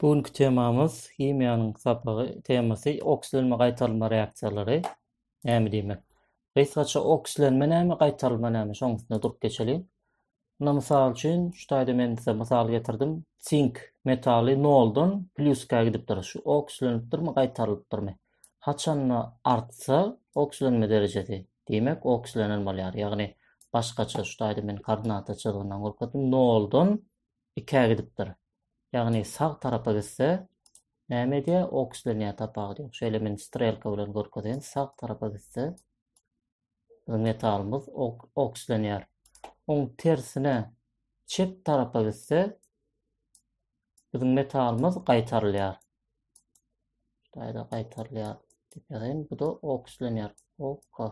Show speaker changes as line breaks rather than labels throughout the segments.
Bu günki temamyz himiýanyň sapagy temasy okislenme gaýtarylma reaksiýalary näme diýmek? Gysgaça okislenme näme gaýtarylma näme şoň üstünde durup geçeliň. Muna mysal üçin şu taýda men size mysal getirdim. Sink metaly noldan plýuska gidipdir. Şu okislenipdirmi gaýtarylypdyrmy? Haçanda artsa okislenme derejesi diýmek okislenen bolýar. Ýagny başgaça şu taýda men koordinata çyzgyndan görkezdim. Noldan ikä gidipdir. Ýagny sag tarapa gitse näme edýär? Okslenýär tapawut ýok. Şeýle men strelka bilen görkezeýin. Sag tarapa gitse biziň metalymyz okslenýär. Oň tersine çep tarapa gitse biziň metalymyz gaýtarylýar. Şaýda gaýtarylýar diýip ýazaýyn. Bu-da okslenýär. Oka.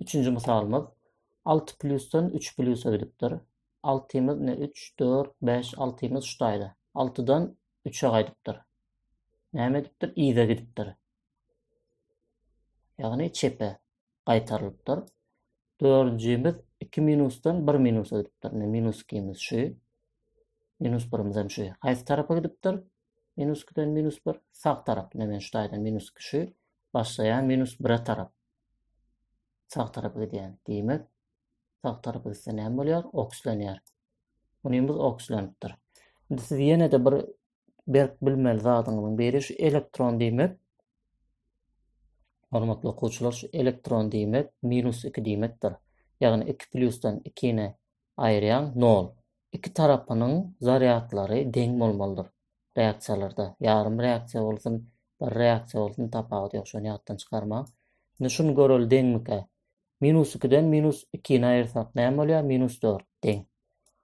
Üçünji mysalymyz alty plusdan üç plusa gidipdir. Altymyz ne üç, dört, bäş, altymyz şu taýda. Altydan üçe gaýdypdyr. Näme edipdir? Yza gidipdir. Ýagny çepe gaýtarylypdyr. Dördünjimiz iki minusdan bir minusa gidipdir. Ne minus ikimiz şu. Minus birimiz hem şu. Haýsy tarapa gidipdir? Minus ikiden minus bir. Sag tarap. Ne men şu taýdan minus iki şu. Başlaýan minus bire tarap. sag tarapa gidýän. Diýmek, sag tarapa gitse näme bolýar? Okslenýär. Unumyz okslenipdir. Indi siz ýene-de bir berk bilmeli zadyňyzyň biri şu elektron diýmek. Hormatly okuwçylar, şu elektron diýmek minus 2 diýmekdir. Ýagny 2 plusdan 2-ni aýyrýaň, nol. Iki tarapynyň zarýadlary deň bolmalydyr. Reaksiýalarda, ýarym reaksiýa bolsun, bir reaksiýa bolsun, tapawudy ýok, şony ýatdan çykarmaň. Indi şuny göreli deňmikä? Minus ikiden minus ikini aýyrsak näme bolýar? Minus dört, deň.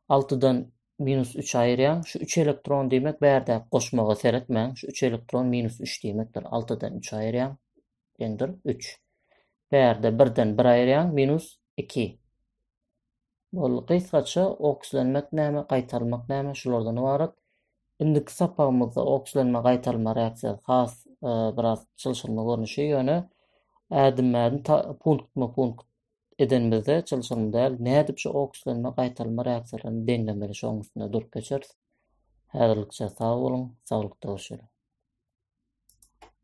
Altydan minus üçi aýyrýaň, şu üç elektron diýmek bärdäki goşmaga seretmäň, şu üç elektron minus üç diýmekdir. Altydan üçi aýyrýaň, deňdir, üç. Bärde birden bir aýyrýaň, minus iki. Boldy. Gysgaça okslenmek näme, gaýtalmak näme şulardan ybarat. Indiki sapagymyzda okslenme gaýtalma reaksiýasy has biraz çylşyrymly görnüşi, ýöne ädimmä-ädim punktma-punkt edenimizde çylşyrymly däl. Nädip şu okslenme gaýtalma reaksiýalaryny deňlemeli şoň üstünde durup geçeris. Häzirlikçe sag boluň, saglykda görşeliň.